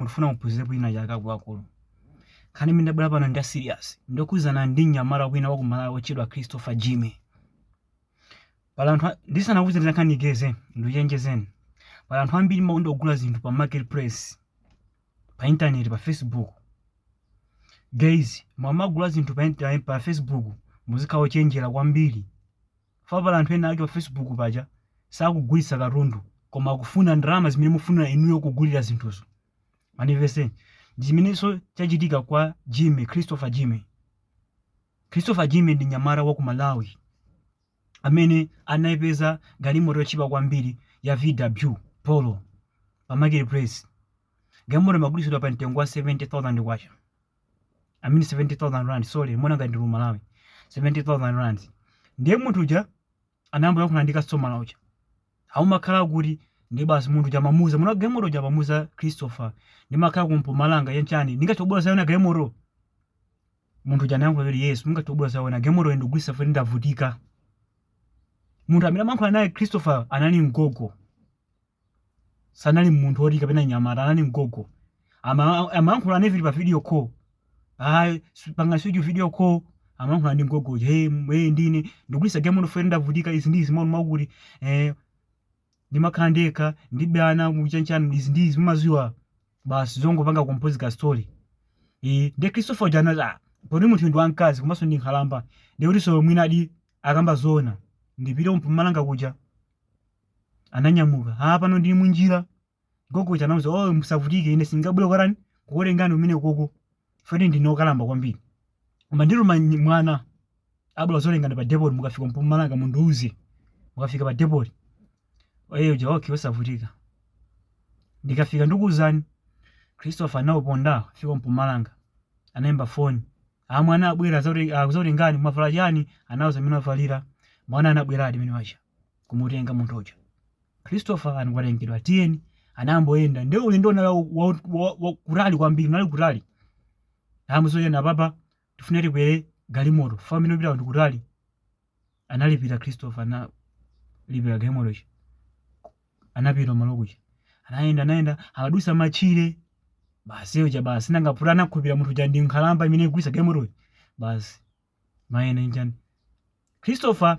ndikufuna muphunzirepo china chake akuluakulu. Nkhani imene ndabwera pano ndi ili serious. Ndi yokhudzana ndi mnyamata wina wa ku Malawi wotchedwa Christopher Jimmy. Pali anthu a- ndisanakuuzeni za nkhani ikeze ndikuchenjezeni. Pali anthu ambiri makonda kugula zinthu pa marketplace, pa internet, pa Facebook. Guys, mumagula zinthu pa, inter- pa Facebook muzikhala ochenjera kwambiri. Chifukwa pali anthu ena ake pa Facebook paja sakugulitsa katundu koma akufuna ndalama zimene mufunira inuyo kugulira zinthuzo. Mundimvetse? Ndi chimenenso chachitika kwa Jimmy, Christopher Jimmy. Christopher Jimmy ndi nyamata wa ku Malawi amene anaipeza galimoto yotchipa kwambiri ya VW Polo pa marketplace. Galimoto imagulitsidwa pa mtengo wa 70,000 kwacha. I mean 70,000 rand, sorry, mwina ngati ndi Malawi. 70,000 rand. Ndiye munthu uja anayamba kuyankhula ndi customer uja. Ah mumakhala kuti ndi basi munthu uja amamuuza, mwini galimoto uja amamuuza Christopher. Ndimakhala ku Mpumalanga chanichani. Ndingathe kubwera kuzaiona galimoto. Munthu uja anayankha kuti yes, mungathe kubwera kuzaiona galimoto ndikugulitsa chifukwa ndavutika. Munthu amene amayankhula naye Christopher anali mgogo. sanali munthu oti kapena nyamata anali mgogo Ama- amayankhula naye vili pa video call anapanga switch video call amayankhula ndi mgogo uja hey, m- hey ndine ndikugulitsa galimoto chifukwa ndavutika izi ndi izi amvekere kuti eh ndimakhala ndekha ndibe ana chanichani izi ndi izi mumaziwa basi zongopanga compose ka story eh ndi Christopher uja anati ah poti munthu ndi wamkazi komanso ndi nkhalamba ndikutinso mwina zedi akukamba zoona ndipite kumpumalanga kuja ananyamuka ah pano ndili munjira gogo uja anauza oh musavutike ine sindingabwere kukakutengani umene koko poti ndine okalamba kwambiri koma ndituma nyi- mwana abwera kuzakutengani pa depot mukafika mpumalanga mundiuze mukafika pa depot oye uja okay osavutika ndikafika ndikuuzani christopher anauponda fika mpumalanga anayimba foni ah mwana abwera azoti- azakutengani mwavala chani anauza mmene avalira mwana anabweradi mwana uja kumutenga munthu uja christopher anakatengedwa tiyeni anayamba kuyenda nde ulendo unali wa- wa- wa- wa- kutali kwambiri unali kutali amuzonyana papa tifuna tikwere galimoto chifukwa komwe tikupita ndi kutali analipira christopher analipira galimoto ija anapita malo kuja anayenda anayenda amadusa matchire basi uja basi nanga poti anakhulupirira munthu uja ndi nkhalamba imene ikugulitsa galimotoyo basi mayene njani christopher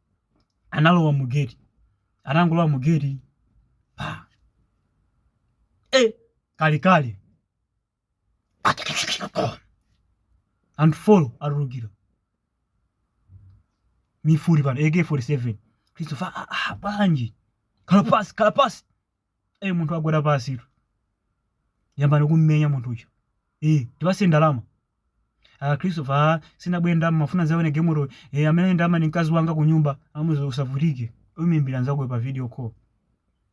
analowa mu geti atangolowa mu geti pa e kalekale anthu folo atulukira mifuti pano ak47 christopher ah, ah, bwanji khala pasi khala pasi e munthu wagwa pansi kuyamba kummenya munthu uja e tipase ndalama a christopher a sinabwere ndalama mafuna ndawone galimoto e ali ndi ndalama ni mkazi wanga kunyumba amuuza usavutike umuimbira mkazako pa video call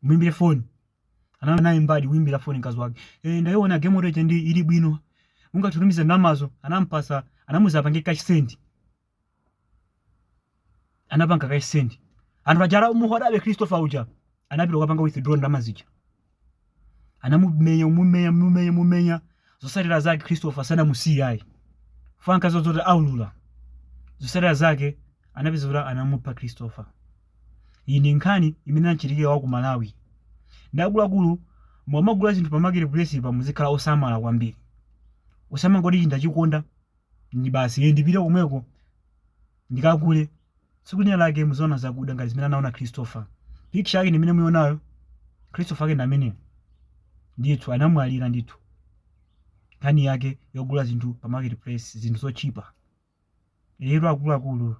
mwimbire phone anayambadi kuimbira foni mkazi wake e, ndaiona galimoto ija ndi ili bwino ungatumiza ndalamazo anampasa anamuuza apange cash send anapanga cash send anthu aja anamugwirabe christopher uja anapita kukapanga withdraw ndalama zija anamumenya mumenya mumenya mumenya zotsatira zake christopher sanamusiye ayi poopa zoti aulula zotsatira zake anapeza kuti anamupha christopher iyi ndi nkhani imene inachitikira wa ku malawi ndi akuluakulu mumagula zinthu pa market place apa muzikhala osamala kwambiri osamangoti chinthu ndachikonda ndi basi iye ndipite komweko ndikagule tsiku lina lake muzaona zakuda ngati zimene anaona christopher picture yake ndimene mukuionayo christopher ake ndi amene ndithu anamwalira ndithu nkhani yake yogula zinthu pa market place zinthu zotchipa lero akuluakulu